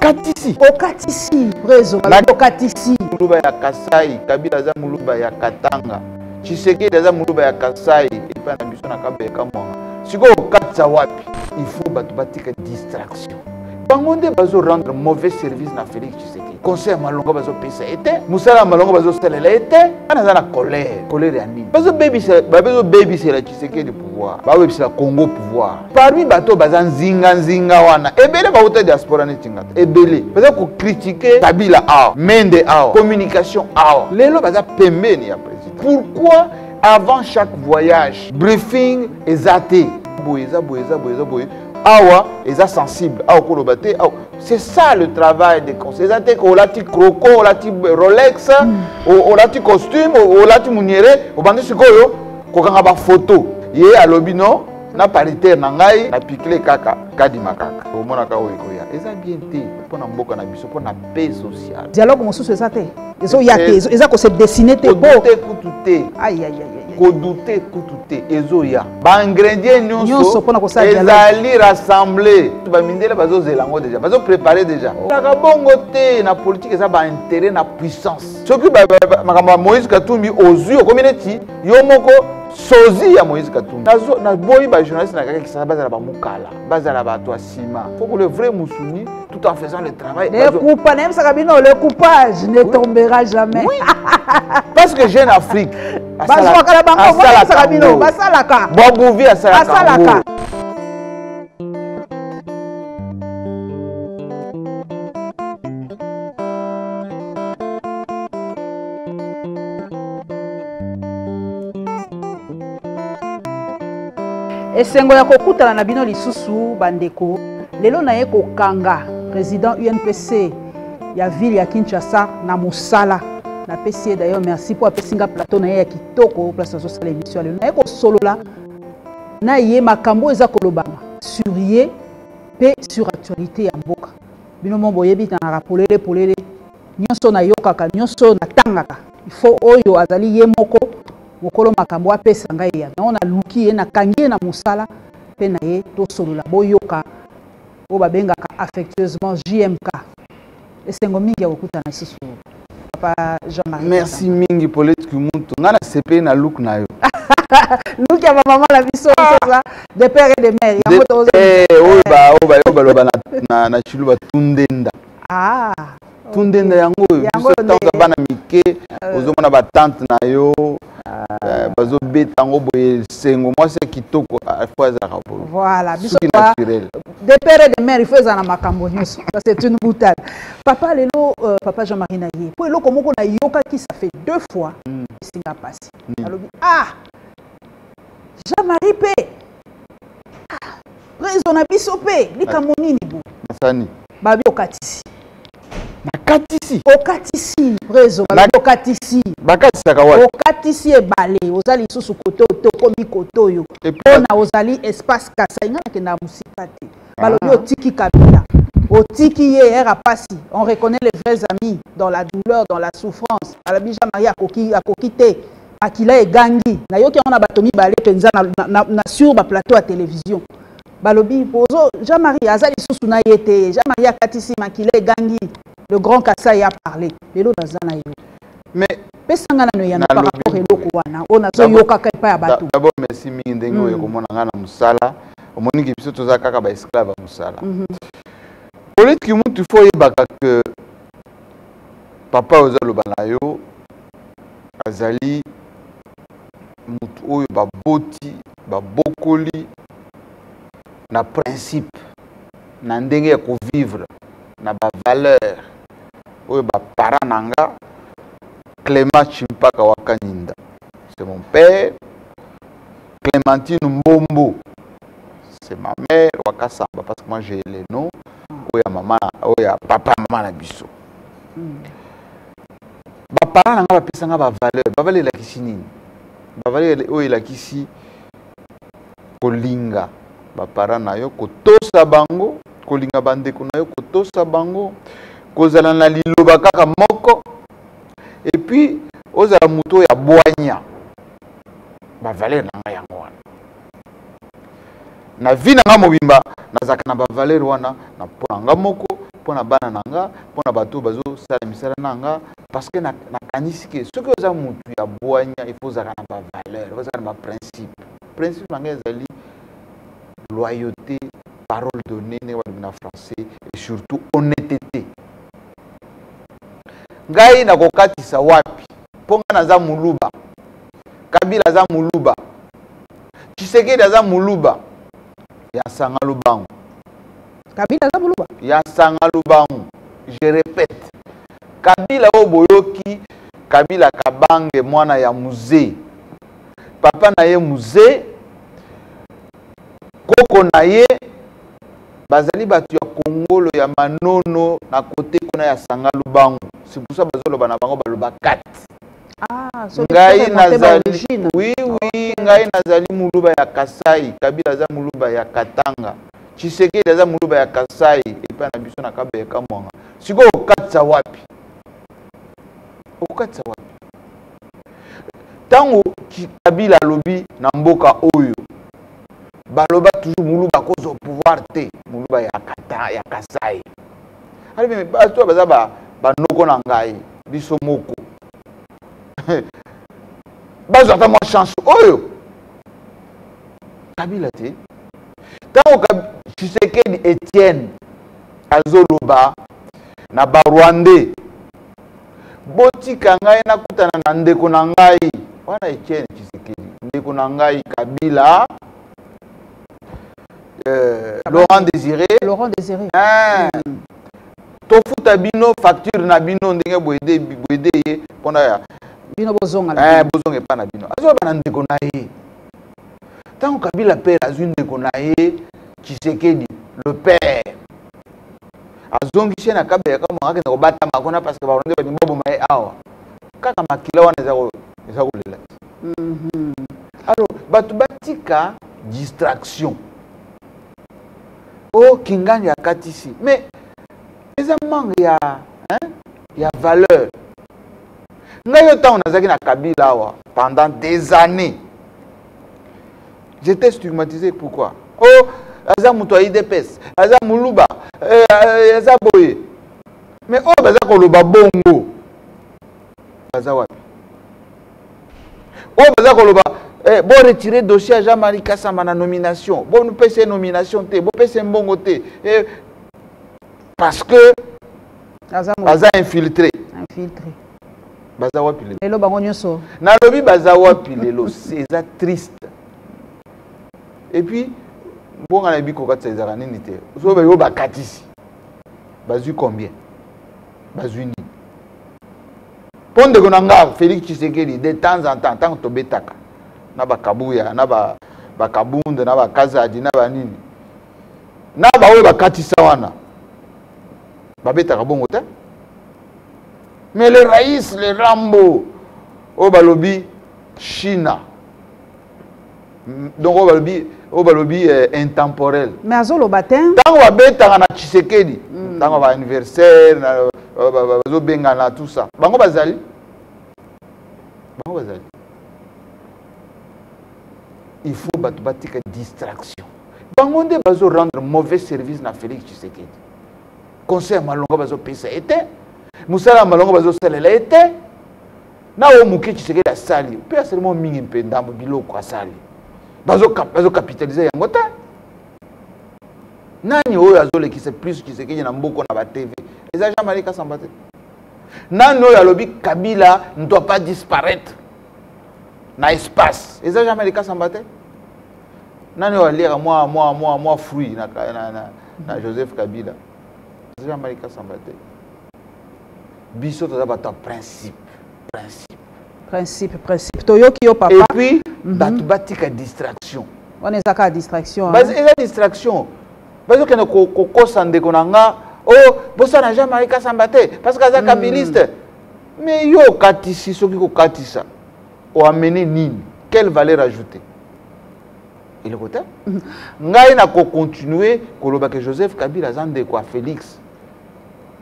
okatisi okatisi prezo okatisi muluba ya kasai kabila aza muluba ya katanga tshisekedi aza muluba ya kasai epai na biso na kabele kamwanga sikoyo okatisa wapi il faut bato batika distraction bango nde bazo rendre mauvais service na félix tshisekedi conseil ya malonga bazopesa ye te mosala ya malonga bazosalela ye te wana aza na colère colère ya nini bazobebisela tshisekedi pouvoir babebisela congo pouvoir parmi bato oyo baza nzinganzinga wana ebele bauta diaspora neti nga te ebele baza kokritike kabila awa mende awa communication awa lelo baza pembeni ya président pourquoi avant chaque voyage briefing eza te boye eza boye eza boye eza boye awa eza sensible awa okoloba te awa c'est ça le travail des conseils eza te olati croco olati rolex mm. olati costume olati muniere obandi sikoyo kokanga bafoto ye alobi no na paritaire na ngai na pikle kaka kadima kaka omonaka oyo ekoya eza bien te mpo na mboka na biso mpo na paix sociale dialogue mosusu eza te ezoya te eza kose dessine te te kutu te kodute kutu te ezoya baingredient nyonso ezali rassemble bamindele bazozela yango deja bazoprepare deja taka bongo te na politike eza bainteret na puissance soki makambo ya moïse katumbi ozwi okomi neti yo moko sozi ya moïse katumbi naboyi bajournaliste na kaka kisasa bazala bamokala bazala bato ya nsima foko le vrai musuni tout en faisant le travail lekupa nayebisaka bino le coupage ne tombera jamais oui. parce que jeune afrique bazwaka na bango moyebisaka bino basalaka bobuvi asalaka esengo ya kokutana na bino lisusu bandeko lelo naye kokanga président unpc ya ville ya kinshasa na mosala napesi ye d'ailleurs merci mpo apesi nga plateau na ye ya kitoko place nazosala émission ya lelo naye kosolola na ye makambo oyo eza kolobama sur ye mpe sur actualité ya mboka bino mo boyebi nalaka polele polele nyonso nayokaka nyonso natangaka ifo oyo azali ye moko mokolo makambo apesa ngai ya yango naluki ye nakangi ye na mosala mpe na ye tosolola boyoka oyo babengaka affectueusement jmk esengo mingi ya kokutana lisusu papa jean marie merci mingi polete kimuntu ngai nasepeli na look na yo luki ya bamama na biso soza de père et de mère yango tozoyo bayo baloba na chilu batundenda ah, tundenda yango oyo biso ntango bana mike euh. ozomona batante na yo Eh, bazobeta yango boye sengo mwasi ya kitoko ah, fo azalaka boyesuki naturel de père et de mère ifo ezala na makambo nyonso ça c'est une boutade papa lelo euh, papa jean marie na ye mpo eloko moko nayokaki ça fait deux fois hmm. esinga mpasi hmm. alobi ah jean marie mpe ah, rezo na biso mpe likambo nini bo nasani babi okatisi bakatisi okatisi prezo okatisi bakatisaka wapi okatisi ebale oza lisusu kote tokomi kote oyo mpona ozali espace kasai ngai nakenda ya mosika te ah. balobi otiki kabila otiki ye ere apasi on reconnaît les vrais amis dans la douleur dans la souffrance balobi jean marie akoki, akoki te makila egangi nayoki yango na bato mibale mpenza na, na, na, na sur baplateau ya televizio balobi bozo jean marie aza lisusu na ye te jean marie akatisi makila egangi le grand kasai a parle lelo naza na yo mais pesanga nano eyano par rapport eloko wana oyo nazoyokaka epai ya bato d'abord merci mingi ndenge oyo hmm. komona ngai na mosala omoni ke biso toza kaka baesclave ya mosala mhm. politiki mutu fo oyebaka ke papa oyo ozaloba na yo azali moto oyo baboti babokoli na principe na ndenge ya kovivre na bavaleur oyo bapara na nga clément chimpaka wakaninda c'est mon père clémentine mbombo c'est ma mère wakasamba parce que moi j'ai le nom oyo ya mama oyo ya papa mama na biso mm. baparent na ngai bapesa ngai bavaleur bavaleur elakisi nini bavaleur oyo elakisi kolinga baparent na yo kotosa bango kolinga bandeko na yo kotosa bango kozala na liloba kaka moko epuis ozala moto oyo abwanya bavaleur na ngai yango wana na vie na nga mobimba nazalaka na bavaleur wana na mpo na nga moko mpo na bana na nga mpo na bato bazosala misala na nga parceke nakanisi ke soki oza motu ya bwanya ifo ozalaka na bavaleur ozalaka na baprincipe principe na ngai ezali loyauté parole donnée ndenge balobi na français et surtout honnêteté ngai nakokatisa wapi mpo ngai naza moluba kabila aza muluba tshisekedi aza muluba ya sanga lubangu kabila aza muluba ya sanga lubangu je répète kabila oyo boyoki kabila kabange mwana ya muze papa na ye muze koko na ye bazali bato ya kongolo ya manono na kote kuna ya sanga lubangu c'est pour ça bazoloba na bango baloba kati Ah, ngai nazali oui oui ngai nazali muluba ya kasai kabila aza muluba ya katanga tshisekedi aza muluba ya kasai epai na biso na kaba ya kamwanga sikoyo okatisa wapi okokatisa wapi ntango kabila alobi na mboka oyo baloba toujours muluba akozwa pouvoir te muluba ya, kata, ya kasai alobi me bato oyo baza banoko na ngai biso moko bazwa ata mwa chance oyo kabila te ntango tshisekedi etienne azoloba na barwandais botika ngai nakutana na ndeko na ngai wana etienne tshisekedi ndeko na ngai kabila euh, Laurent Désiré Laurent Désiré hein. mm. tofuta bino facture na bino ndenge boyede boyede ye mpona ya bino bozonga na eh, bozonga epai na bino azwa bana ndeko na ye ntango kabila pere azwi ndeko na ye tshisekedi le père azongisi ye na kabelaka moko akenda kobatama kuna parce que barwande balingi baboma ye awa kaka makila wana eza ko eza kolela te mhm. alors bato batika distraction o oh, kingani akatisi mais eza manque ya hein, ya valeur ngai yo ntango nazalaki na kabila awa pendant des années j'étais stigmatisé pourquoi o oh, aza moto ya idps aza moluba eh, eh, aza boye mais oyo oh, baza koloba bongo baza wapi oyo baza koloba eh, bo retire dossier ya jean marie kasamba na nomination bopesa nomination te bopesa mbongo te eh, parce que baza infiltré baza wapi lelo bango nyonso nalobi baza wapi lelo eza triste et puis mbonga na yebi kokatisa ezalaka nini te soki bayo bakatisi bazwi combien bazwi nini mpo ndeko na nga félix tshisekedi de temps en temps ntango tobetaka na bakabuya na bakabunde na bakazadi na banini na baoyo bakatisa wana babetaka bongo te mais le rais le rambo oyo balobi china donc oyo balobi oyo balobi eh, intemporel mais azoloba te ntango babetaka na tshisekedi mm. ntango baanniversaire bazobengana tout ça bango bazali bango bazali il faut bato batika distraction bango nde bazorendre mauvais service na félix tshisekedi conseil ya malonga bazopesa ye te mosala ya malonga bazosalela ye te na oyo moke tshisekedi asali mpe asali mwa mingi mpe ndambo biloko asali bazokapitalise yango te nani oyo azolekisa plus tshisekedi na mboko na batv eza jean marie kasamba te nani oyo alobi kabila ne doit pas disparaître na espace eza jean marie kasamba te nani oyo aliaka mwa mwa mwa mwa fruit na, na, na, na joseph kabila eza jean marie kasamba te biso toza bato ya principe principe principe principe toyoki yo papa epuis mhm. bato batika distraction wana eza kaka distraction eza distraction bazokende kokosa ndeko na nga o oh, bosana jean marie kasamba te parce que aza kabiliste mhm. mais yo okatisi soki kokatisa oamene nini quelle valeur ajoutée eloko te mhm. ngai nakocontinue kolobaka joseph kabila aza ndeko ya félix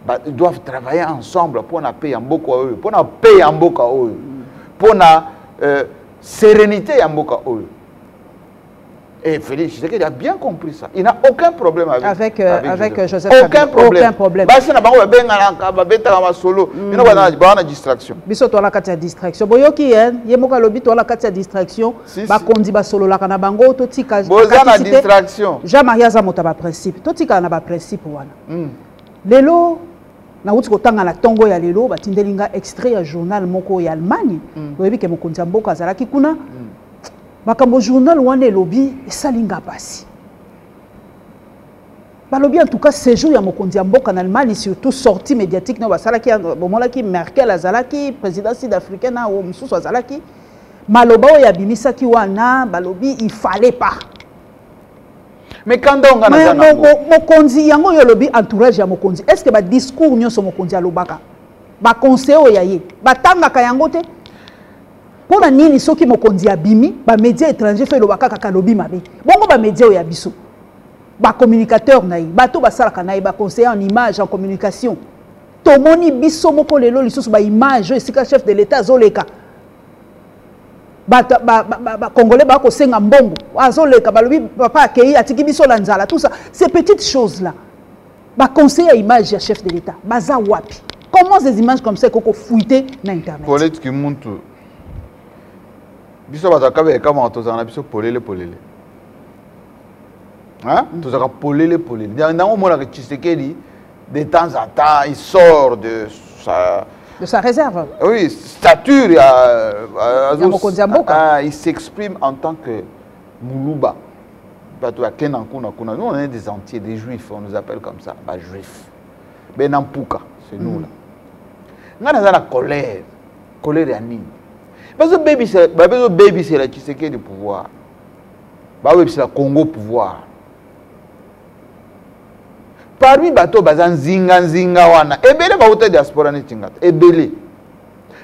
ba doivent travailler ensemble mpo na paix ya mboka oyo mpo na paix ya mboka oyo mpo na euh, sérénité ya mboka oyo Et Félix Tshisekedi a bien compris ça. Il n'a aucun problème avec, avec, euh, avec, avec euh, Joseph. Joseph aucun Kabila. problème. Aucun problème. Basi na bango babengana babetaka masolo. Mm. Bino bana bana distraction. Biso toala kati ya distraction. Boyoki hein, ye moko alobi toala kati ya distraction. Si, ba kondi ba solo la kana bango to tika. Boza na distraction. Jean Maria za motaba principe. To tika na ba principe wana. mm. lelo nauti kotanga na ntongo ya lelo batindeli nga extrait ya journal moko ya allemagne mm. oyebi ke mokonzi ya mboka azalaki kuna mm. makambo journal wana elobi esali nga mpasi balobi en tout cas séjour ya mokonzi ya mboka na allemagne surtout sortie médiatique nayo basalaki bomonaki merkel azalaki président sud africain na oyo mosusu azalaki maloba oyo abimisaki wana balobi il fallait pas mikanda oyo ngai naza nango mokonzi yango oyo olobi entourage ya mokonzi est ce que badiscours nyonso mokonzi alobaka baconseil oyo ya ye batangaka yango te mpo na nini soki mokonzi abimi bamédia étranger fo eloba kaka kalobi mabe bongo bamédia oyo ya biso bacommunicateur na ye bato basalaka na ye baconseiller en image en communication tomoni biso moko lelo lisusu baimage oyo esika chef de l'état azoleka bakongolais ba, ba, ba, bakosenga mbongo azoleka balobi papa akei atiki biso na nzala tout ça ces petites choses là baconseil ya image ya chef de l'état baza wapi comment ces images comme ça ekoki kofuite na internet polete kimuntu biso bato akabe ekamaka tozala na biso polele polele mm. tozalaka polele polele ndango omonaka tshisekedi de temps en temps il sort de sa de sa réserve oui stature ya euh, ya mokonzi ya mboka ah, il s'exprime en tant que muluba bato ya kena kuna kuna nous on est des entiers des juifs on nous appelle comme ça ba juifs bena mpuka c'est nous là mm. ngai naza na colère colère ya nini bazobebisela tshisekedi pouvoir bawebisela congo pouvoir parmi bato oyo baza nzinganzinga wana ebele bauta diaspora neti ngata ebele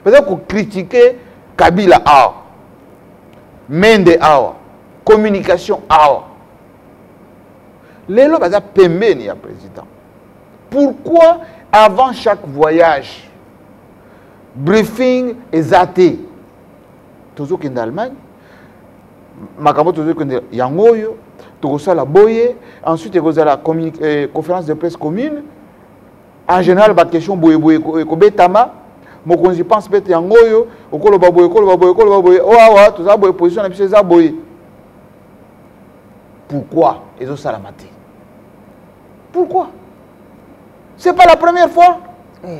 baza kokritike kabila awa mende awa communication awa lelo baza pembeni ya président pourquoi avant chaque voyage briefing eza te tozokende allemagne makambo tozali kende yango oyo tokosala boye ensuite ekozala eh, conférence de presse commune en général baquestion boyeboye ekobetama mokonzi pense mpe te yango oyo okoloba boye okoloba boye okoloba boye o awa toza boye position na biso eza boye pourquoi ezosalama te pourquoi c'est pas la première fois eh.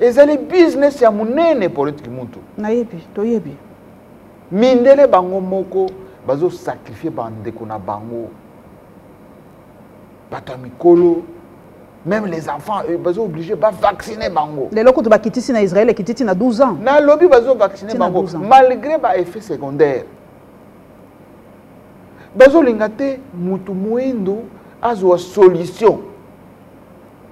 ezali business ya monene polete kimuntu nayebi toyebi mindele bango moko bazosakrifie bandeko na bango bato ya mikolo même les enfants euh, bazo obligé bavaccine bango lelo kutu bakitisi na israel ekititi na 12 ans nalobi bazovaccine bango malgré baeffet secondaire bazolinga te motu moindo azwa solution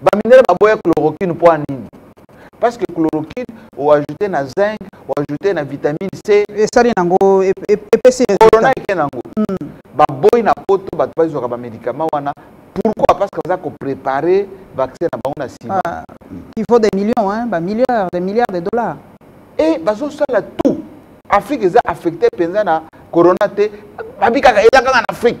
baminere baboya chloroquine mpo nini parce que chloroquine oajoute na zinc oajoute na vitamine c esali nango epesi corona eke nango hmm. baboyi na poto bato bazwaka bamédicament wana pourquoi parce que baza koprépare vaccin na bango na nsima ah, il faut des millions hein, bamilliards des milliards de dollars e bazosala tout afrique eza affecté mpenza na corona te babikaka eza kaka na afrique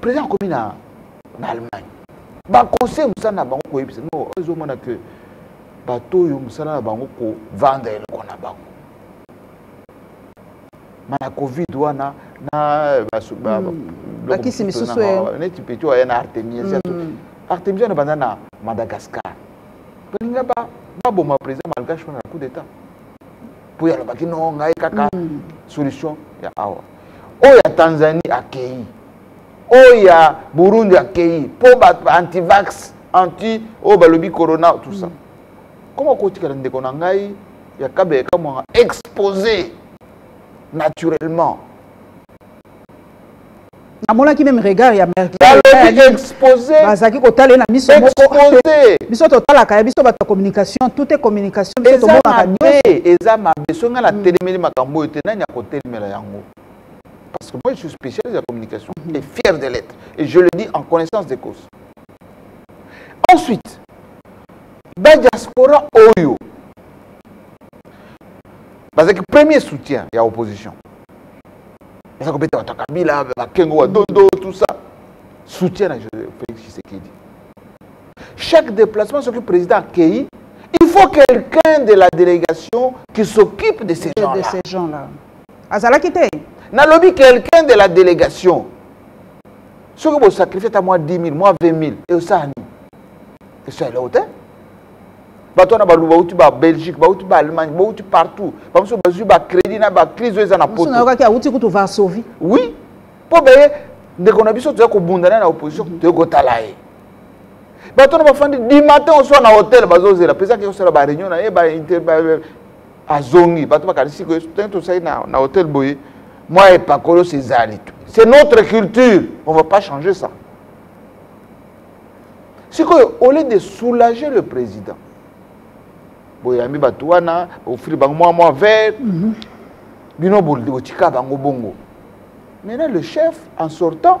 président akomi na na allemagne baconseil mosala na bango koyebisa no oyo ezomona ke bato oyo mosala na bango kovanda eloko na bango ma na covid wana na bakisi hmm. misusu neti peti oyo aya na artemis hmm. artemis wana banda na madagascar balinga baboma président malgache wana na coup d'état mpo yalobaki no ngai kaka hmm. solution ya awa oyo ya tanzanie akei oyo ya burundi akei mpo bato ba antivax anti oyo balobi corona tout ça koma kotikala ndeko na ngai ya kabele kamwanga expose naturellement namonaki meme regard ya merkelbazalaki kotala ye na miso mokoexpose biso totalaka ya biso bato ya communication tout est communication biso tomonaka nyonso eza mabe soki ngai natelemeli makambo oyo te nani akotelema kokomela yango parce que moi je suis spécialiste ya communication mm -hmm. et fier de l'être et je le dis en connaissance de cause ensuite badiaspora oyo bazalaki premier soutien ya opposition baza kobeta bato ya kabila bakengo wa dondo tout ça soutien na félix tshisekedi Chaque déplacement, ce que le président accueille, il faut quelqu'un de la délégation qui s'occupe de ces gens-là. De ces gens-là. Azala quitté. N'a lobby quelqu'un de la délégation. Ce que vous sacrifiez à moi 10 000, moi 20 000, et ça, et ça, là, hauteur. bato wana baluba bauti ba belgique bauti ba allemagne bauti partout bamosusu bazwi bacrédit na bacrise oyo eza na potoyokaki auti kutu varsovie oui mpo baye ndeko na biso toya kobunda naye na opposition toyokotala ye bato na bafandi du matin oswa na hotel bazozela mpenza ke kosala bareunion na ye azongi bato bakanisi ke soki tosali na hotel boye mwa epakolo sezali tu c'est notre culture on va pas changer ça sikoyo au lieu de soulager le président boyambi bato wana ofili bango mwa mwa vert mhm. bino botika bango bongo maintenant le chef en sortant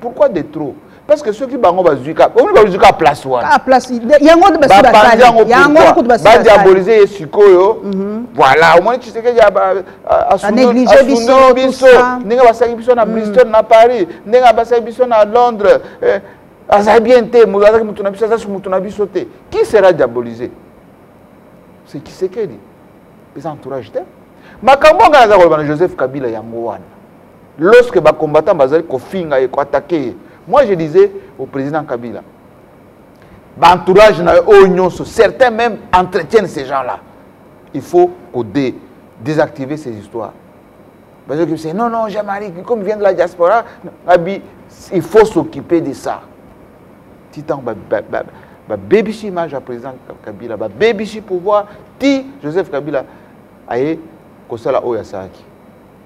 pourquoi de trop parce que soki bango bazwi omi bazwi kaka place wanabapanzi yango badiabolise ye sikoyo mhm. voilà omoni tshisekedi asundoli biso ndenge basangi biso na mhm. bristol na paris ndenge basangi biso na londres eh, azali bien te azalaki moto na biso aza su moto na biso te qui sera diabolise c'est tshisekedi eza entourage te makambo anga naza koloba na joseph kabila yango wana lorsque ba combattants bazali kofinga ye koatake ye moi je disais au président kabila baentourage na yo oyo nyonso certains même entretiennent ces gens là il faut kode désactiver ces histoires bazoki se non non jamari comme vient de la diaspora abi il faut s'occuper de ça ti ntango babebisi image ya président kabila babebisi pouvoir ti joseph kabila aye kosala oyo asalaki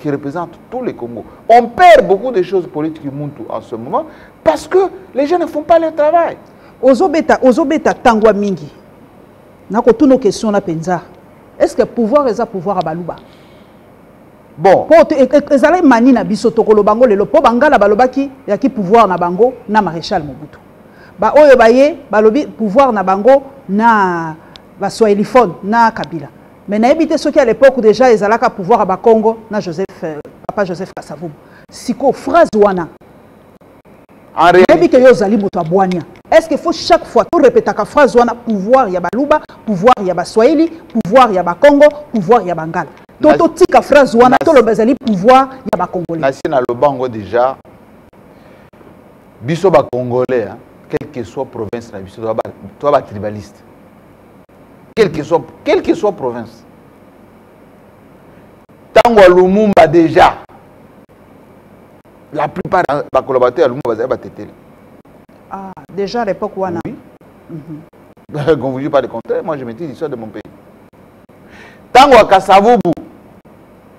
qui représente tous les Congos. On perd beaucoup de choses politiques Muntu en ce moment parce que les gens ne font pas leur travail. Ozobeta, ozobeta tangwa mingi. Nako toutes nos questions là penza. Est-ce que pouvoir est pouvoir à Baluba? Bon. Po e, e, ezalaki mani na biso tokolo bango lelo po bangala balobaki ya ki pouvoir na bango na maréchal Mobutu. Ba oyo baye balobi pouvoir na bango na ba swahiliphone na Kabila. mais nayebi te soki à l'époque déjà ezalaka pouvoir ya bakongo na joseph euh, papa joseph kasavubu sikoyo phrase wana nayebi ke yo ozali moto ya bwania est ce que faut chaque fois torepetaka phrase wana pouvoir ya baluba pouvoir ya baswahili pouvoir ya bakongo pouvoir ya bangala to totika phrase wana toloba ezali pouvoir ya bacongolais nasi naloba yango déjà biso bacongolais hein, quelle que soit province na biso toa batribaliste quel que soit, quel que soit province ntango ya lumumba déjà la plupart ba collaborateurs ya lumumba bazali bateteli ah, déjà à l'époque wana oui. mm -hmm. qu'on vous dit pas le contraire moi je maîtrise l'histoire de mon pays ntango ya kasavubu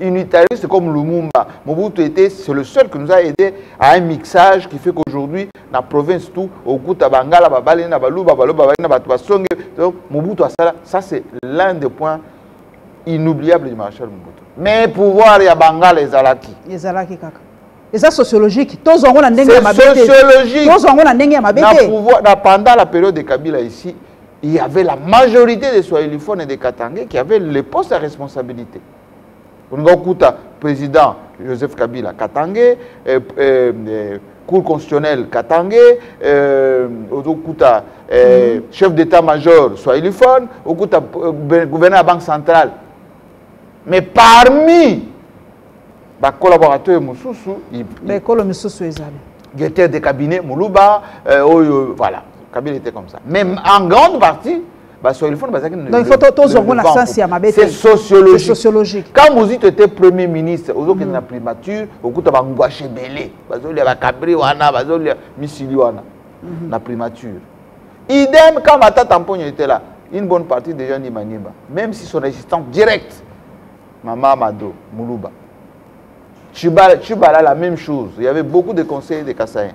unitariste comme Lumumba. Mobutu était, c'est le seul qui nous a aidé à un mixage qui fait qu'aujourd'hui, dans la province tout, au Kuta Bangala, Babale, Nabaluba, Baloba, Babale, Nabatubasonge, donc Mobutu Asala, ça c'est l'un des points inoubliables du maréchal Mobutu. Mais pouvoir ya Bangala ezalaki. Ezalaki kaka. eza sociologique tozwa yango na ndenge ya mabe te tozwa yango na ndenge ya mabe te na pendant la période de kabila ici il y avait la majorité des soyeliphones et des katangais qui avaient les postes à responsabilité olinga okuta président joseph kabila katange eh, eh, eh, cour constitutionnelle katange eh, ozokuta eh, mm -hmm. chef d'état major swahilifone okuta eh, gouverneur ya banque centrale mais parmi bakolaborateur mosusu baekolo misusu ezali directeur de cabinet moluba euh, oyo voilà kabila était comme ça mais en grande partie baswahiliphone bazalaki na il faut tozwa yango na sense ya mabe c'est sociologique quand mozito était premier ministre ozokende mm. na primature okuta bangwashe ebele bazolia bakabri wana bazolia misili wana mm-hmm. na primature idem quand matata mponyo était là une bonne partie des gens ni maniemba même si son existence directe mama mado muluba chibala la même chose il y avait beaucoup de conseillers de kasaïen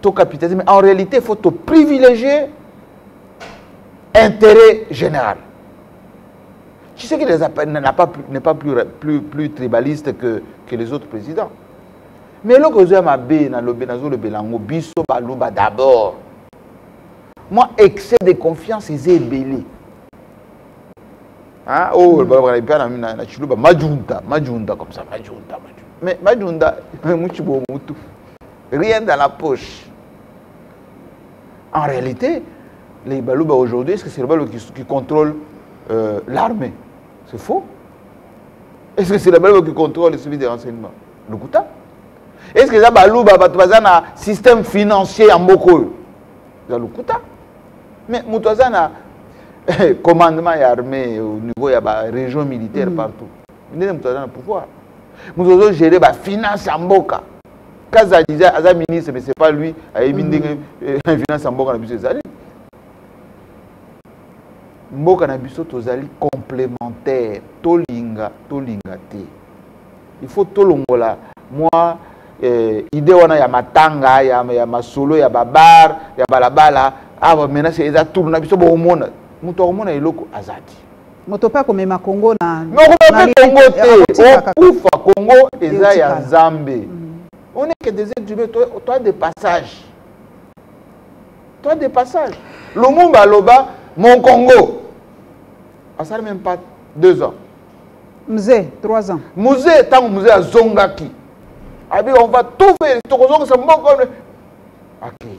to capitaliser mais en réalité faut to privilégier intérêt général tu sais qu'il n'est pas, pas plus, plus, plus tribaliste que, que les autres présidents mais eloko ezo ya mabe nalobe nazolobela yango biso baluba d'abord moi excès de confiance eza ebele hein? oh, mm. balobaka mpe na, na chiluba majunta majunta comme ça majunta, majunta. mais majunta muchibo mutu rien dans la poche en réalité les baluba aujourd'hui est-ce que c'est le baluba qui, qui contrôle euh, l'armée c'est faux est-ce que c'est le baluba qui contrôle le service de renseignement lokuta est-ce que eza baluba bato baza na système financier ya mboka oyo eza lokuta mais moto aza na eh, commandement ya armée au niveau ya barégion militaire mm. partout ndenge moto aza na pouvoir moto ozogere bafinance ya mboka kaza deja aza ministre mais c'est pas lui ayebi ndenge finance ya mboka na biso ezali mboka na biso tozali complémentaire tolinga tolinga te il faut tolongola mwa eh, idée wana ya matanga ya, ya masolo ya babar ya balabala awa ah, menace eza tour na biso bokomona moto akomona eloko aza te moto pe akomema congo na nokoma pe congo te okufa congo eza ya nzambe mm. on est que des êtres humains toi de passage toi de passage lumumba aloba mon congo asali même pas deux ans mze trois ans mze ntango mze azongaki abi on va tout faire tokozongisa mboka akei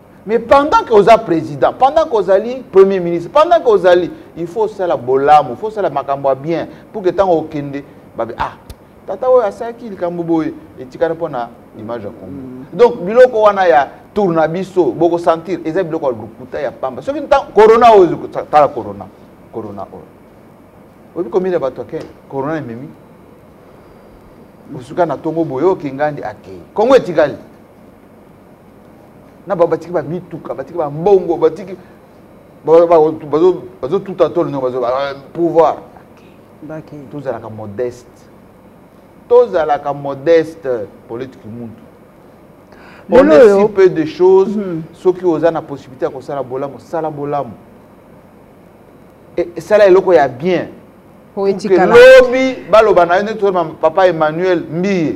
mais pendant que oza président pendant que ozali premier ministre pendant que ozali il faut osala bolamu faut osala makambo ya bien pour que ntango okende babe ah tata oyo asalaki likambo boye etikali mpo na image ya congo mm. donc biloko wana ya tour na biso bokosentir eza biloko ya lokuta ya pamba soki corona oyo tala corona corona oyo oyebi komina bato ake corona ememi osuka na ntongo boye okingandi akei kongo etikali na bango batiki bamituka batiki bambongo batiki bazotuta tolo ndenge bazo euh, pouvoir tozalaka modeste tozalaka modeste politiki muntu on est si peu de choses mhm. soki oza na possibilité ya kosala bolamu sala bolamu e, sala eloko ya bien lobi baloba na yo neti papa emmanuel mbiye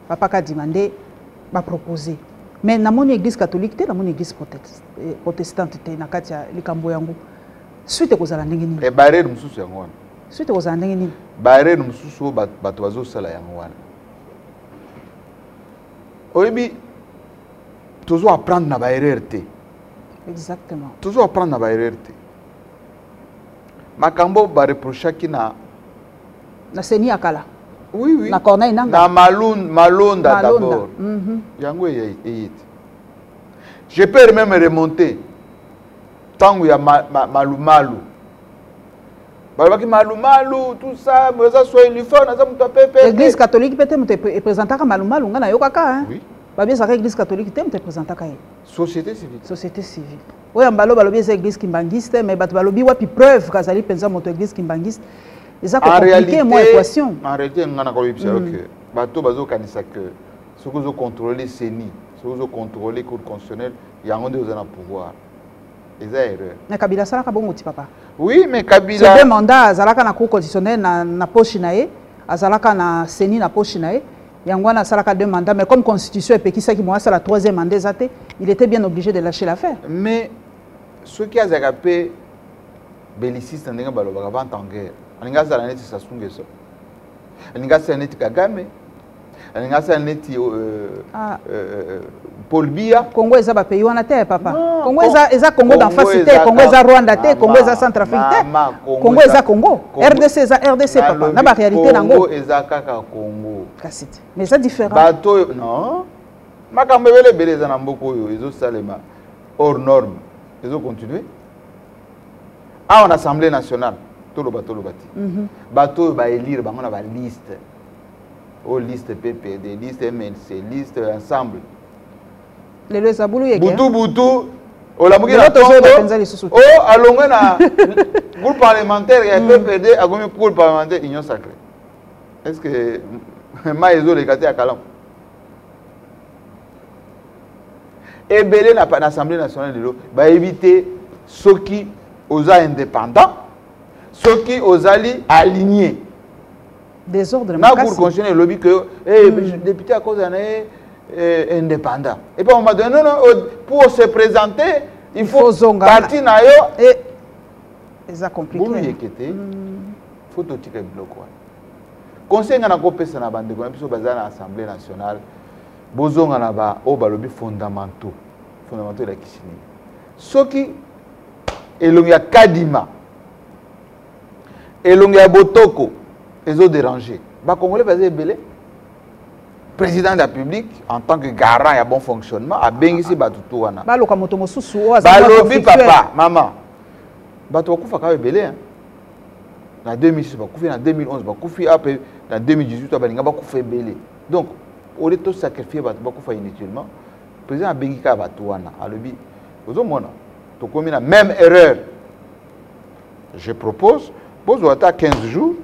papa kadima nde bapropose mais namoni église catholique te namoni église eh, protestante te na kati ya likambo yango suite ekozala ndenge nini eh, barrière mosusu yango wana suite ekozala ndenge nini barrière mosusu oyo bato bazosala yango wana oyebi tozo apprendre na baerreur te exactement tozo apprendre na baerreur te makambo bareprochaki na na seni ya kala oui, oui. na corneille nanga na malonda, malonda d'abord mm -hmm. yango eye te je peux même remonter ntango ya ma, ma, malumalu balobaki malumalu tout ça eza soelifone aza moto ya pepe église catholique mpe te moto epresentaka malumalu ngai nayokaka oui. babi ezalaka église catholique te moto epresentaka ye société civile société civile oyo mbalo balobi eza église kimbanguiste mais bato balobi wapi preuve kazali mpenza moto église kimbanguiste eza kocomplike mwa équation en réalité ngai nakoyebisa yo mm. ke bato bazokanisa ke soki ozocontrôle ceni soki ozocontrôle cour constitutionnelle yango nde oza na pouvoir eza erreur na kabila asalaka bongo ti papa oui mais kabila deux mandat azalaka na cour constitutionnelle na, na poche na ye azalaka na ceni na poche na ye yango wana asalaka deux mandat mais comme constitution epekisaki mo asala troisième mandat eza te il était bien obligé de lâcher l'affaire mais soki azalaka mpe beliciste ndenge balobaka vente en guerre alingi azala neti sasungeso alingi asala neti kagame alingi asala neti euh, ah. euh, euh, euh Paul Biya. Congo eza ba pays wana te papa. Non, Congo eza eza Congo d'en face te, Congo eza Rwanda te, Congo eza Centrafrique te. Congo eza Congo. RDC eza RDC papa. Na ba réalité nango. Congo eza kaka Congo. Kasi te. Mais eza différent. Bato non. Makambo ebele ebele eza na mboka oyo ezo salema hors norme. Ezo continuer. Awa na Assemblée nationale toloba toloba te. Mhm. Bato oyo ba élire bango na ba liste. oyo liste ppd liste mlc liste ensemble lelo eza bulu yeke butu butu olamuki na tongo o oh, alongwe na groupe parlementaire ya ppd mm. akomi groupe parlementaire union sacré est ce que mai ezoleka te ya kalamu ebele na, na assemblée nationale lelo bayebi te soki oza indépendant soki ozali aligné desordre na cour constitutionnel elobi que eh, hmm. député akozala na ye eh, indépendant et puis on m'a donné non, non oh, pour se présenter il faut parti na yo eh, eza compliqueboloyeke te hmm. faut totika biloko wana conseil ngai nakopesa na bandeko na biso baza na assemblée nationale bozonga na ba oyo balobi fondamentaux fondamentaux elakisi nini soki elongi ya kadima elongi ya botoko ezo déranger ba congolais baza ebele président de la République, en tant que garant et bon fonctionnement, a béni si bato tout wana. Baloka moto mosusu oyo azali balobi papa, maman. Bato bakufa kaka ebele hein. Na 2006 bakufi, na 2011 bakufi, après na 2018 balinga bakufa ebele. Donc, au lieu de sacrifier bato bakufa inutilement, président abengi kaka bato wana, alobi ozomona tokomi na même erreur je propose bozwa ata 15 jours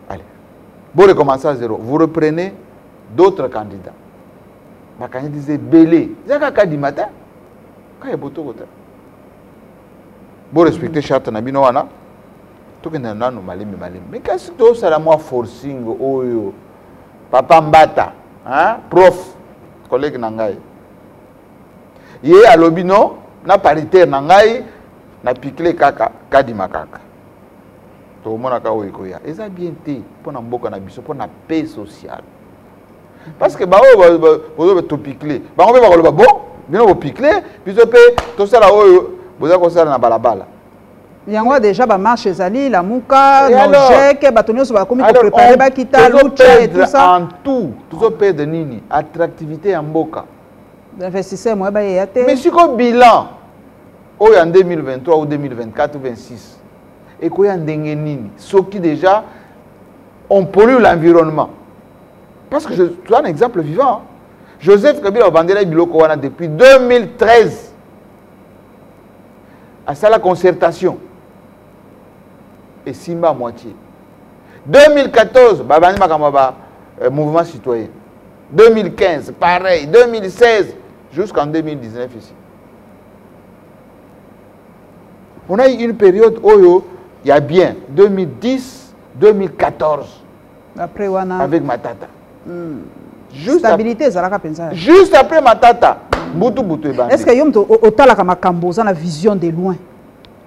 allez bo recommencer à zéro vous reprenez d'autres candidats bakandidisa ebele eza kaka du matin kaka ebotoko te bo respecte charte na bino wana tokenda nanu malembe malembe mais kasi tosala mwa forcing oyo papa mbata hein? prof collègue na ngai ye alobi non na paritaire na ngai na pikle kaka kadima kaka tokomonaka oyo ekoya eza bien te mpo na mboka na biso mpo na paix sociale parce que baoyo bozoba topikle bango mpe bakoloba bon bino bopikle biso mpe tosala oyo boza kosala na balabala yango deja bamarche ezali lamuka nojeke bato nyonso bakomi koprepare bakita lucha et tout ça en tout tozoperdre nini attractivité ya mboka investisseur moya bayeya te mais siko bilan oyo ya 2023 ou 2024 ou 26 ekoya ndenge nini soki déjà on pollue l'environnement parce que je, tu as un exemple vivant joseph kabila obandelaki biloko wana depuis 2013 asala concertation esimba moitié 2014 babandi makambo ya ba euh, mouvement citoyen 2015 pareil 2016 jusqu'en 2019 ici on a eu une période oyo ya bien 2010 2014 après wana avec matata mm. juste stabilité ezalaka mpenza juste après matata mbutu butu ebandi est ce que yo moto otalaka makambo oza na vision de loin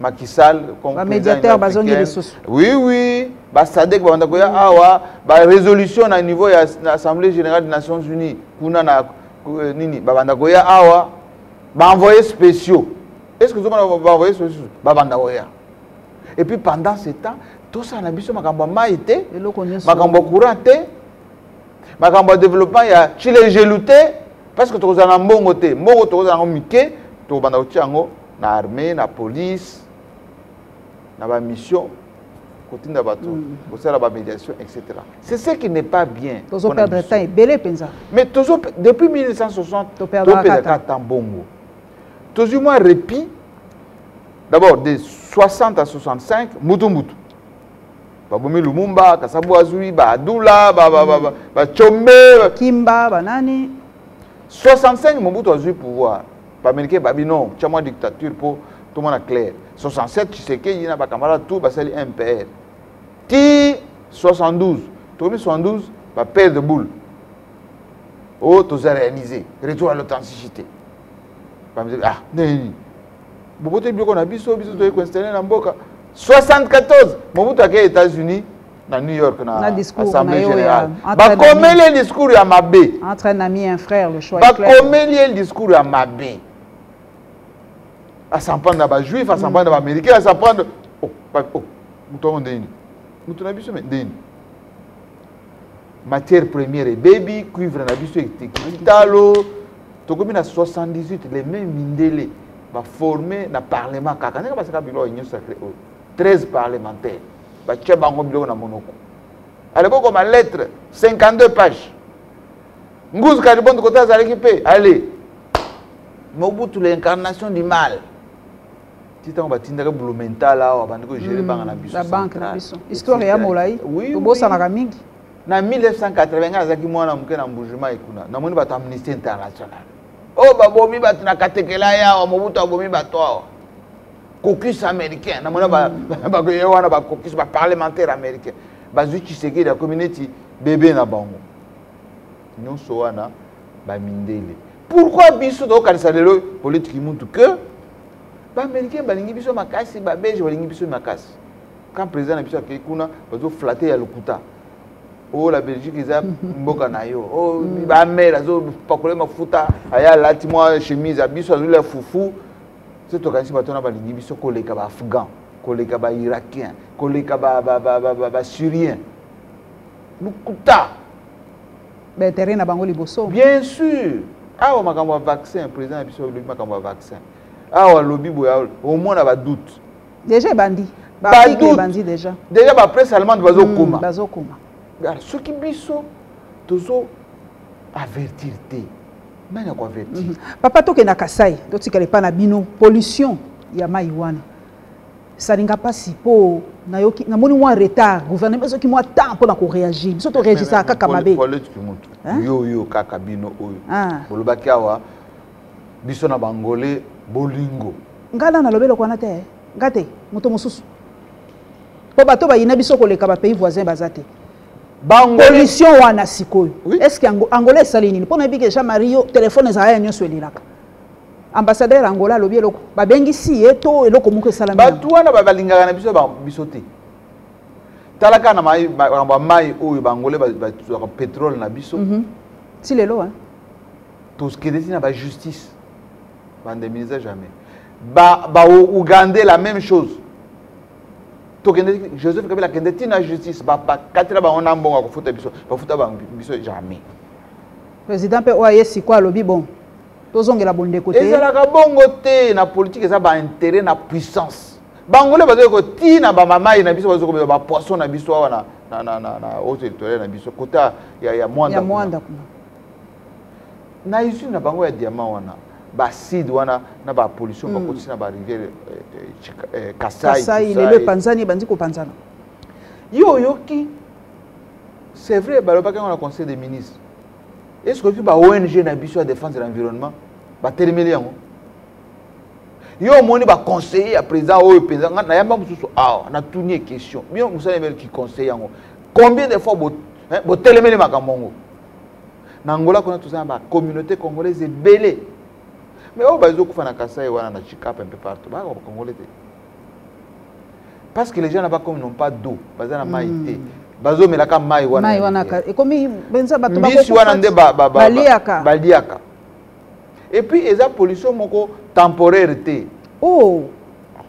Macky Sall comme médiateur bazongi lisusu oui oui ba SADC ba banda koya awa ba résolution na niveau ya na Assemblée générale des Nations Unies kuna na euh, nini ba banda koya awa ba envoyés spéciaux est-ce que zoma ba envoyés spéciaux ba banda koya et puis pendant ce temps tosala na biso makambo ya mai te makambo ya courant te makambo ya développement ya chilejelu te parce que tokozala na mbongo te mbongo tokozala yango mike tokobanda kotia yango na armée na police na ba mission kotinda bato mm. kosala ba médiation etc c'est ce qui n'est pas bien tozo perdre temps ebele mpenza mais tozo depuis 1960 toperdaka temps bongo tozwi mwa répit d'abord de 60 à 65 mutu mutu babomi lumumba kasabu azwi baadula bacombe kimba banani 65 mobutu azwi pouvoir Bamericain babi non, tya mwa dictature mpo tomona clair. 67 Tshisekedi na bakamarade tout basali MPR. Ti 72, tokomi 72 ba paire de boule. Oh, toza réalisé. Retour à l'authenticité. Bamericain, ah, nini boboto biloko na biso biso toyei koinstalle na mboka 74 mobutu akei états-unis na New York na, na Assemblée générale bakomeli ye discours ya mabe entre un ami et un frère le choix bakomeli ye discours ya mabe asan prendre na bajuif asan prendre na baaméricain asan prendre oh, oh, moto yango nde nini moto na biso me nde nini matière première ebebi cuivre na biso etekitalo tokomi na 78 les mêmes mindele baforme na parlement kaka ndenge basaka biloko ya union sacré oyo 13 parlementaire batya bango biloko na monoko aleko koma lettre 52 page nguzu kalibondo kote azalaki mpe ale mobutu l'incarnation du mal ti ntango batindaka blumental awa bandi kogere mm, banga na biso na banke na biso histoire ya molai tobosanaka mingi na 1980 ngai azalaki mwana moke na mbujuma ekuna namoni bato amnistie international oyo oh, babomi bato na katekela yawa mobutu abomi bato awa caucus américain namona bakoye wana bacaucus baparlementaire américain bazwi tshisekedi akomi neti bebe na bango nyonso wana bamindele pourkui biso tokokanisa lelo politiki mutu ke baaméricain balingi biso makasi babelge balingi biso makasi quand président na biso akei kuna bazoflate ya lokuta o oh, la belgique eza mboka na yo o oh, hmm. bamere azopakola mafuta aya alati mwa chemise ya biso azolila fufu soki tokanisi bato wana balingi biso koleka baafghan koleka bairakien koleka basyrien lokuta baintere na bango liboso bien sûr awa makambo ya vaccin président na biso alobi makambo ya vaccin awa alobi boye omona badoute déjà ebandi badoute déjà déjà bapresse allemande bazokoma hmm, bazokoma soki biso tozo avertir te nani ako avertir mm -hmm. papa tokenda kasai totikala epa na bino pollution ya mai wana esalinga mpasi mpo nayoki namoni mwa retard gouvernement ezoki mwa temps mpo na koreagir biso toreagisaka kaka mabe yo yo kaka bino oyo ah. bolobaki awa biso na bangole bolingo ngai na nalobi eloko wana te ngai te moto mosusu mpo bato bayina biso koleka bapays voisin baza te pollution wana sikoyo oui. est ce que angola esali nini mpo nayebi ke jean marie yo telefone ezala ya nyonso elelaka ambassadeur angola alobi eloko babengisi ye to eloko moko esalami bato wana balingaka na biso biso te tala kaka na makambo ya mai oyo baangolais bazwaka petrole na biso mhm. ti lelo tokende ti na bajustice bandeminiza jamais baougandais ba la même chose tokende joseph kabila akende ti na justice bakatela bango na mbongo ya kofuta biso bafuta bango biso jamais président mpe oyo aye sikoyo alobi bon tozongela bondeko te ezalaka bongo te na politike eza baintérêt na puissance bangole bazoki kotii na bamamai na biso bazoki kobeba bapoisson na biso awa na haut territorial na biso kota ya mwanda kuna na usine na bango ya diamant wana baacide wana na bapollution mm. bakotisi na barivière eh, eh, kasai lelo epanzani ebandi kopanzana ye oyoki c'est vrai balobaki yango na conseil des ministres eske oyoki ba ong na biso ya défense de l'environnement batelemeli yango yo omoni baconseiller ya président oyo mpenza ngai nayamba mosusu awa ah, natuni ye question bino mosala ebele kiconseille yango combien de fois botelemeli makambo yango na angola kuna toza na bacommunauté congolaise ebele mais oyo bazokufa na kasai wana na chikapa mpe partout baka bacongolais te parce que les gens là-bas comme n'ont pas d'eau baza na mai te hmm. bazomelaka mai wanaekmibisi wana nde baliaka et puis eza pollution moko temporaire te oh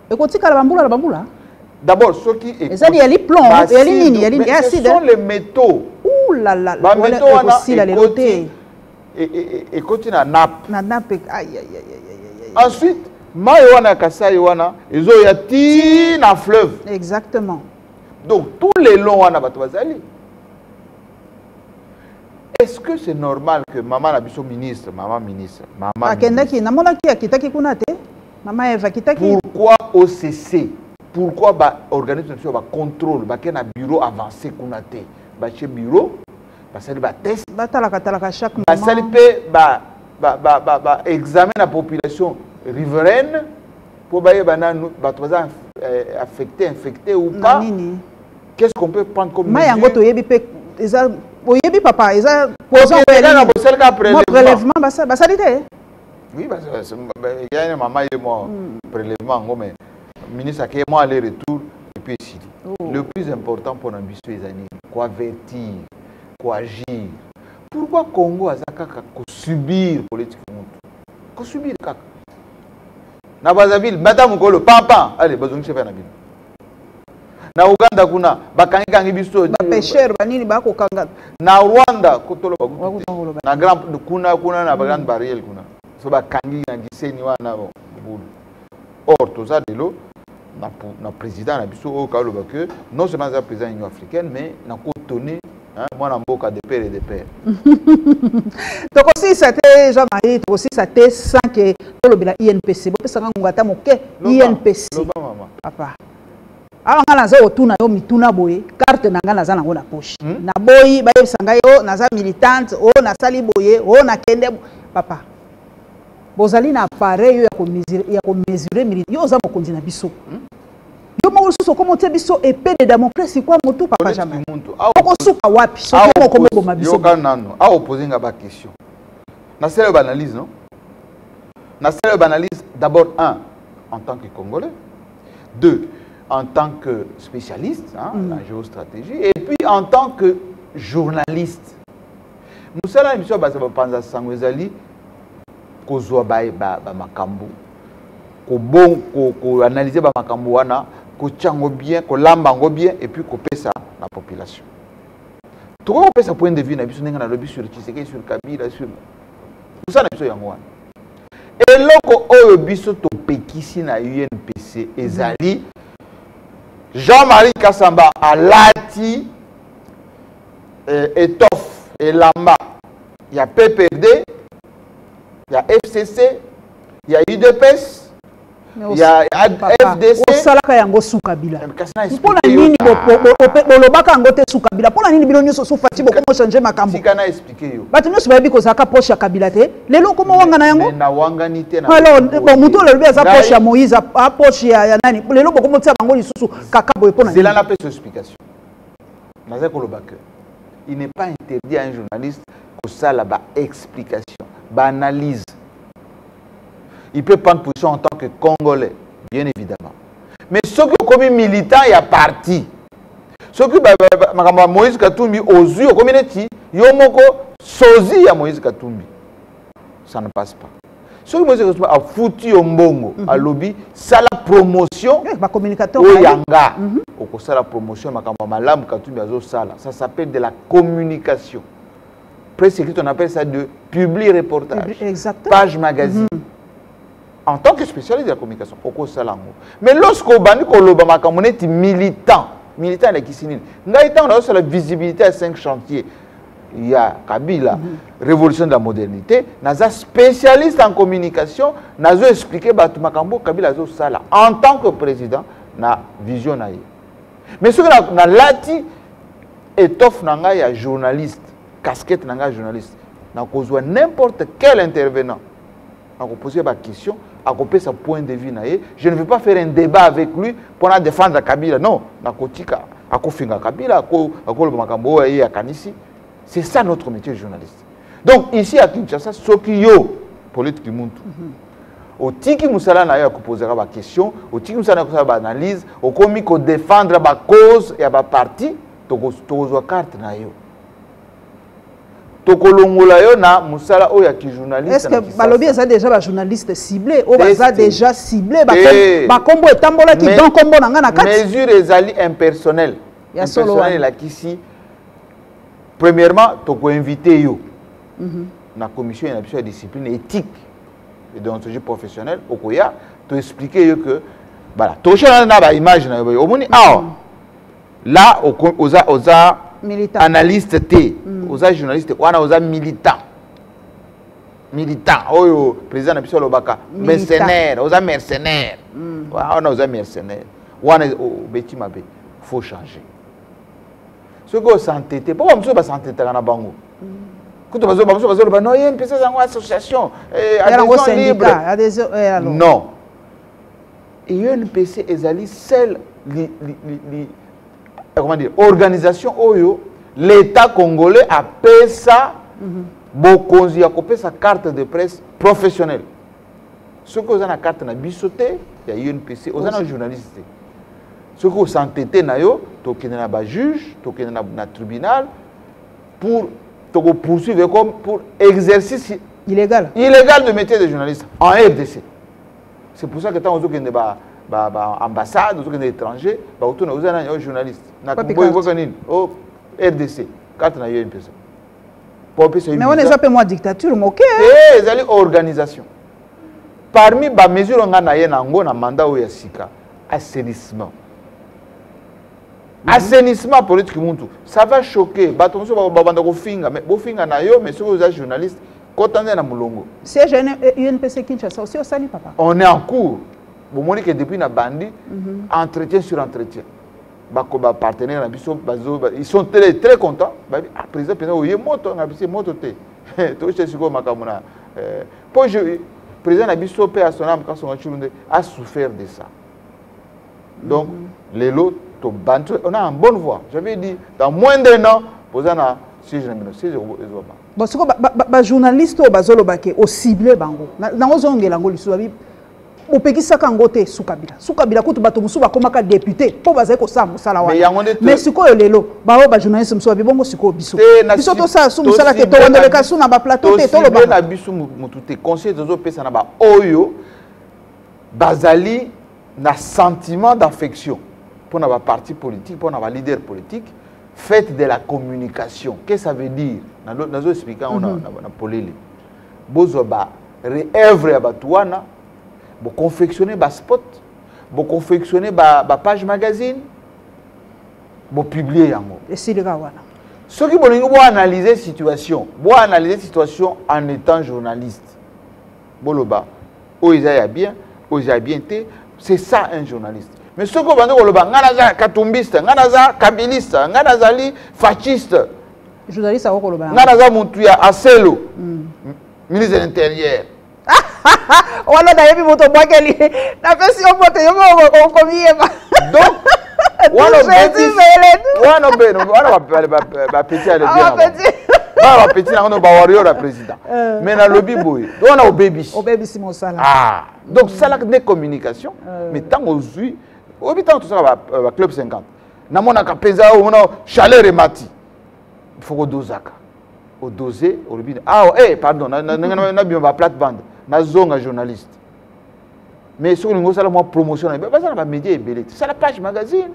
ekotikala bambula na bambula d'abord soki ezali yali plomb yali nini yali ya acide ce sont les métaux ouh là là ba métaux wana ekosila lelo te ekoti na nappe na nappe aïe aïe aïe aïe ensuite mai wana ya kasai wana ezoya ti na fleuve exactement donc tout le long wana bato bazali est-ce que c'est normal que mama na biso ministre mama ministre mama akendaki namonaki akitaki kuna te mama eva akitaki pourquoi occ pourquoi baorganisme na biso ba contrôle bake na bureau avancé kuna te batie bureau basali batest batalakatalaka chaque basali mpe baexamen na population riveraine mpo bayeba nanu bato baza eh, affecté infecté ou pas Qu'est-ce qu'on peut prendre comme mesure? Mayango to yebi pe eza oyebi papa eza poison ko yela bo sel ka prélèvement. Prélèvement ba ba sali te. Oui ba il y a une maman et moi hmm. prélèvement ngo mais ministre ake moi aller retour et puis ici. Oh. Le plus important pour na biso ezali ko avertir, ko agir. Pourquoi Congo aza kaka ko subir politique mutu? Ko subir kaka. Na Brazzaville, madame Kolo, papa, allez, bazongisa pe na bino. na uganda kuna bakangikangi biso bapesher banini bakokanga na rwanda kotoloba na grand kuna kuna na grande mm. barriere kuna so bakangi na giseni wana bulu or toza lelo na président na biso oyo kaloba que non seulement aza président union africaine mais nakotoni mwana mboka de pere de pere tokosilisa te jean marie tokosilisa te sans ke tolobela inpc bopesaka ngonga ata moke inpc papa awa ngai naza kotuna yo mituna boye karte na ngai naza nango na poche hmm? naboyi bayebisa ngai o oh, naza militante o oh, nasali boye o oh, nakende papa bozali na appareil yo ya komesure milite yo oza mokonzi na biso hmm? yo moko lisusu okoma otie biso epe de damocles ikwa motu papa jamai okosuka wapi soki moko moboma bisoyoka nano awa opose nga baquestion nasala yo baanalyse no nasala yo baanalyse d'abord un en tant que congolais deux en tant que spécialiste hein, mm. la géostratégie et puis en tant que journaliste mosala na biso ya baza bapanza sango ezali kozwa bamakambo ba, ba kobon koanalyse ko bamakambo wana kotya yango bien kolamba yango bien epuis kopesa na population tokoki kopesa point de vue na biso ndenge nalobi sur tshisekedi sur kabila sur mosala na biso yango wana eloko oyo biso topekisi na unpc ezali jean-marie kasamba alati eh, etoffe elamba ya pprd ya fcc ya udps ya fdc osalaka yango suka bila mpo na nini bolobaka yango te suka bila mpo na nini bino nyonso sufati bokoma change makambo bato nyonso bayebi kozalaka poshe ya kabila te lelo okoma wangana yango alors moto olobi aza poshe ya moïse aposhe ya nani lelo bokoma otia bango lisusu kaka boye mpo na nini nazali koloba que il n'est pas interdit à un journaliste kosala baexplication baanalyse il peut prendre position en tant que congolais bien évidemment mais soki okomi militant ya parti soki makambo ya moïse katumbi ozwi okomi neti yo moko sozi ya moïse katumbi ça ne passe pas soki moïse katumbi afuti yo mbongo mhm. alobi sala promotion eh, oyo ya nga mhm. okosala promotion ya makambo ya malamu katumbi azosala ça s'appelle de la communication presse écrite, on appelle ça de publi reportage. Exactement. Page magazine. Mm -hmm. En tant que spécialiste de la communication, oko salango. Mais lorsque obandi ko loba makambo neti militant, militant la kisinini. Ngai tant na la visibilité à cinq chantiers. Il y a Kabila, mm -hmm. révolution de la modernité, naza spécialiste en communication, nazo expliquer batu makambo Kabila zo sala en tant que président na vision na ye. mais soki nalati étoffe na ngai ya journaliste casquette na ngai ya journaliste nakozwa n'importe quel intervenant akopoze baquestion akopesa point de vue na ye je ne veux pas faire un débat avec lui mpo na défendre kabila non nakotika akofinga kabila akoloba makambo oyo ye akanisi c'est ça notre métier journaliste donc ici à kinshasa soki yo polite kimuntu mm -hmm. otiki mosala na yo ya kopozaka baquestion otiki mosala na yo kosala baanalyse okomi kodefendre bacause ya baparti tokozwa karte na yo tokolongola yo na mosala oyo ya kijournalistebalobi eza deja bajournaliste cible oyo baza deja cible bakombo eh. etambolaki don kombo na ngai na kati mesure ezali impersonnel impersonnel elakisi premièrement toko inviter yo mm -hmm. na commission ya biso ya discipline éthique et déontologie professionnelle okoya to expliquer yo que voilà toshana na ba image na yo omoni awa mm. là oza oza militant. analyste te mm. oza journaliste wana oza militant militant oyo président na biso alobaka mercenaire oza mercenaire mm. wana oza mercenaire wana obeti mabe faut changer soki osantete mpo bamosusu basantetaka na bango kutu bamosusu bazoloba no ye mpesa yango association eh, adhesion libre eh, non unpc ezali sel comment dire organisation oyo l'état congolais apesa mhm. bokonzi ya kopesa carte de presse professionnelle soki oza na carte na biso te ya unpc oza na journaliste te soki osantete na yo tokende na bajuge tokende na, na tribunal pour tokopoursuivre comme pour exercice illégal illégal de métier de journaliste en rdc c'est pour ça que ntango ozokende ba baambassade ba ozokende étranger bakotuna oza nani o oh, journaliste na boyikoka nini o oh, rdc karte na yo mpesa po pe soyi mais wana eza pe mwa dictature moke eh ezali organisation parmi ba mesures nga na ye na ngo na mandat oyo ya sika assainissement mhm. assainissement politique muntu ça va choquer bato mosusu babanda kofinga mais bofinga na yo mais soki oza journaliste kota nde na molongo siège unpc kinshasa osi osali papa on est en cours bomoni ke depuis na bandi mhm. entretien sur entretien bako ba partenaire na biso bazo ils sont très très contents ba ah, président pena oye moto na biso moto te to chez siko makambo na euh, po je président na biso pe à son âme quand son chulunde a souffert de ça donc mm -hmm. lelo to bantu on a en bonne voie j'avais dit dans moins d'un an poza na siège na bino siège ezo ba bon siko ba, ba, ba journaliste oyo bazoloba ke o cible bango na ozongela ngo lisusu bopekisaka yango te sukabila sukabila kutu bato mosusu bakomaka depute mpo bazali kosala mosala wana mais sikoyo lelo baoyo bajournaliste mosusu babi bongo sikoyo biso biso tosala su mosala te towandoleka su na baplateau te toloba na biso motu te conseil tozopesa na baoyo bazali na sentiment d'affection mpo na baparti politique mpo na baleader politique fête de la communication qu'est ce ça veut dire nazo explika yango na mhm. polele bozwa ba reœuvre ya bato wana boconfectionne baspot boconfectionne bapage ba magazine bopublie yango esilika wana soki bolingi boanalyse situation boanalyse situation en étant journaliste boloba oyo eza ya bien oyo eza ya bien te c'est ça un journaliste mais soki obandi koloba ngai naza katumbiste ngai naza kabiliste ngai nazali fasciste journaliste ako koloba ngai naza mutu ya aselo mm. ministre de l'intérieur wana nayebi moto obwakeli napesi yo moto yo okomiyeba donc wana bapeti alebana bapeti na kono bawario ya président euh. mais nalobi boye wana obebisiobebisi mosala ah, donc salaka nde communication euh. mais ntango ozwi oyebi ntango tosalaka baclub euh, 50 namonaka mpenza omona chaleur emati faut kodozaka odose olobi awa ah, e eh, pardon nabima baplate bande nazonga journaliste mais soki olingi osala mwa promotion na baza na bamédia ebele te sala page magazine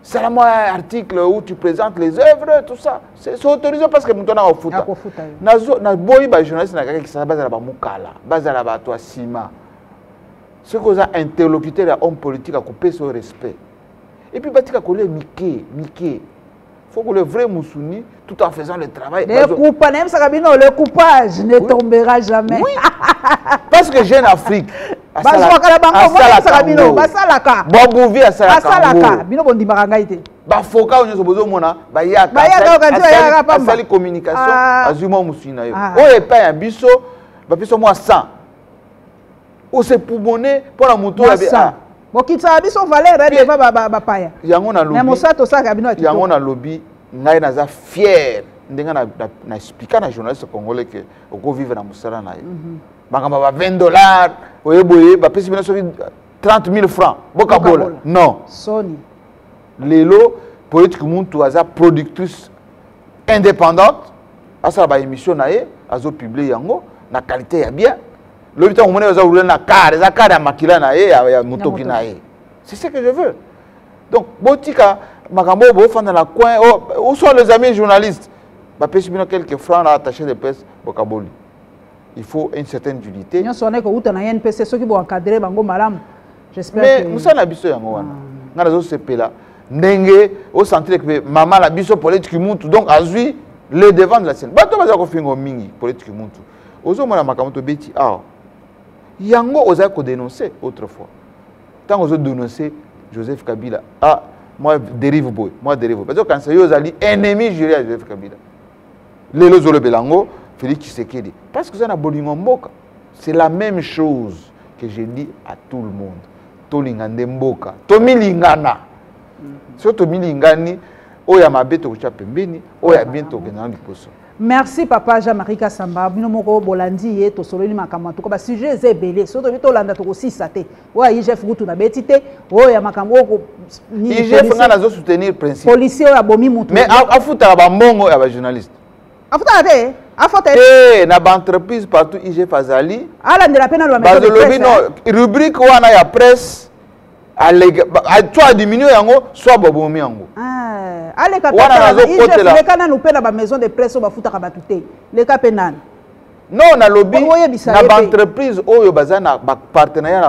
sala mwa article où tu présentes les œuvres tout ça c'est autorisé parce que moto nanga ofuta naboyi bajournaliste na kaka kisasa bazala bamokala bazala bato ya nsima soki oza interlocuteur ya homme politique akopesa yo respect Et puis batika kolia mike mike faut que le vrai Moussuni, tout en faisant le travail. Le coupage, même ça, le coupage ne oui. tombera jamais. Oui. Parce que Jeune Afrique, bazwakala bango basalaka bino basalaka bobuvi asalaka bino bondimaka ngai te bafoka oyo nyonso bozomona bayakaasali communication ah. azwi mwa mosuni na yo ah. oyo epai ya biso bapesa mwa 100 ose poumone mpo na moto oyo ah. bokitisaka biso valeur deva bapaya yango nalobi mosato osalaka bino yango nalobi ngai naza fier ndenge na explika na journaliste congolais ke okovivre na mosala na ye mhm. makambo ba 20 dollars oye boye bapesi bino soki 30 000 francs bokabola non soni lelo politike muntu aza productrice indépendante asala baémission na ye azopiblie yango na qualité ya bien lobi ntango omoni aza roule na kar eza kar ya makila na ye ya motoki na ye c'est ce que je veux donc botika makambo oyo bofanda na coin oh, ou soit les amis journalistes bapesi bino quelques francs na attaché de presse bokaboli il faut une certaine unité nyonso wana ekowuta na npc soki boencadre bango malamu mais mosala na biso yango wana ah. ngai nazosepela ndenge osentire ke mama na biso polete kimuntu donc azwi le devant de la scène bato bazala kofingo mingi polete kimuntu ozomona makambo tobeti awa yango ozali kodenonce autrefois ntango ozodenonce joseph kabila ah, mwa derive boye mwa derive boye bazokanisa yo ozali ennemi jure ya joseph kabila lelo ozolobela yango félix tshisekedi parce que oza na bolingo mboka c'est la même chose que je dis à tout le monde tolinga nde mboka tomilingana mm-hmm. soki tomilingani oyo ya mabe tokotya pembeni oyo ya bien tokenda na liboso merci papa jean marie kasamba bino moko bolandi ye tosololi makambo en tout cas basujet eza ebele soki tobi tolanda tokosisa te oyo ya igf kutu nabeti te oyo ya makambo oyo igf ngai nazo soutenir principe policier oyo abomi motu mais afutaka bambongo ya bajournaliste afutaka te afota te na baentreprise partout igf azali alandela mpe nalobazolobi no rubrique wana ya presse alega soit adiminue yango soit babomi yango ah, aleka leka nanu mpe na bamaison de presse oyo bafutaka bato te leka mpe nani non nalobi na baentreprise oyo baza na bapartenariat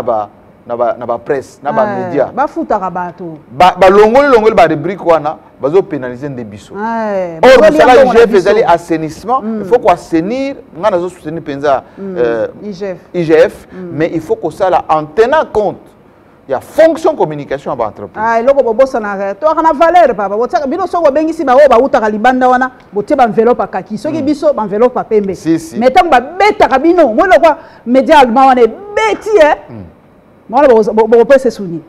na ba na bapresse na bamédia ah, bafutaka bato balongoli longoli barubrike wana bazo pénaliser nde biso eh, or mosala ya igf ezali assainissement mm. il faut koassainir ngai nazo soutenir mpenza mm. euh, igf mm. mais il faut kosala en tenant compte ya fonction communication ya baentreprise ah, eloko bobosanaka toyaka na valeur papa botiaka bino soki bobengisi baoyo bautaka libanda wana botie baenveloppe akaki soki biso baenveloppe ya pembe mais ntango babetaka bino moi lokwa média allemand wana ebeti e mwana bokopesa esuni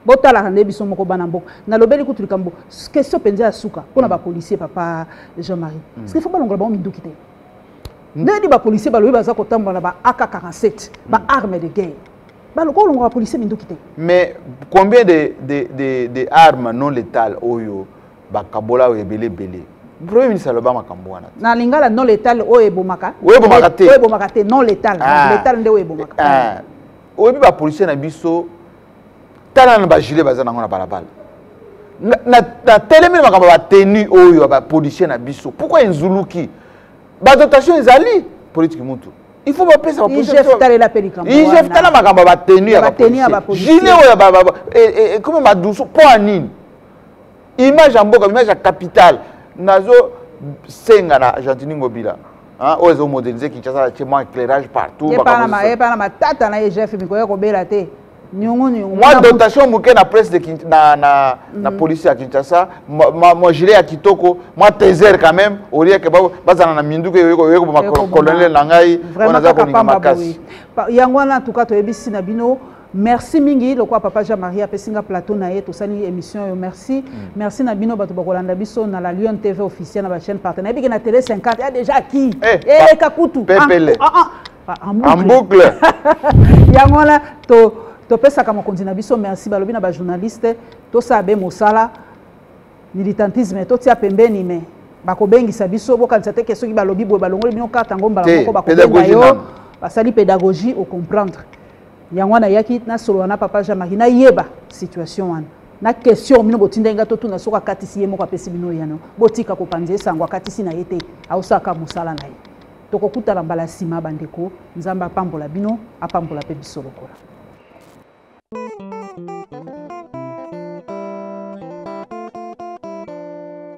botalaka nde biso moko bana mboka nalobeli kutu likambo question mpenza ya suka mpo na bapolisier papa jean marie mm. parce que faut balongola bango minduki te mm. ndeni bapolisier balobi baza kotambola na ba ak 47 ba mm. arme de guerre balokola olongola bapolisier minduki te mais combien de, de, de, de arme non létale oyo bakabola oyo ebele ebele premier ministre aloba makambo wana na lingala non létale oyo ebomaka oyo ebomaka te non létale ah. létale nde oyo ebomaka ah. oyebi ba policier na biso tala na ba gilet baza nango na balabala natelemi na makambo ya batenu oyo ya bapolicier na biso pourkui enzuluki badotation ezali politiki mutu il faut bapesa baigf tala makambo ya batenu ya bapolicier gilet oyo ekomi madusu mpo ya nini image ya mboka image ya capitale nazo senga na gentini ngobila Hein, oyo ezomodernise kinshasa atie mwa éclairage partout epa na matata na egf mikoya kobela te mwa dotation moke na presse de Kin... na, na, mm. na police ya kinshasa mwa gilet ya kitoko mwa teser quand même olie ke bazala na minduki oye koboma colonel na ngai oyo naza kolinga makasi yango wana tuka toyebisi na bino merci mingi lokola papa jean marie apesi nga plateau na ye tosali émission oyo merci mm. merci na bino bato bakolanda biso na la lion tv officiel na bachaîne partenaire ebike na télé 50 ya déjà ki eh, eleka eh, kutu pepele ah, ah, ah, en boucle yango wana topesaka mokonzi na biso merci balobi na bajournaliste tosala be mosala militantisme totia pembeni me bakobengisa biso bokanisa te ke soki balobi boye balongoli bino karte yango mbala moko bakobenga yo basali pédagogie ocomprendre yango wana ayaki nasolola na papa jean marie nayeba situation wana na question bino botindaki ngai totuna soki akatisi ye moko apesi bino yano botika kopanza esango akatisi na ye te aosalaka mosala na ye tokokutana mbala nsima bandeko nzambe apambola bino apambola mpe biso lokola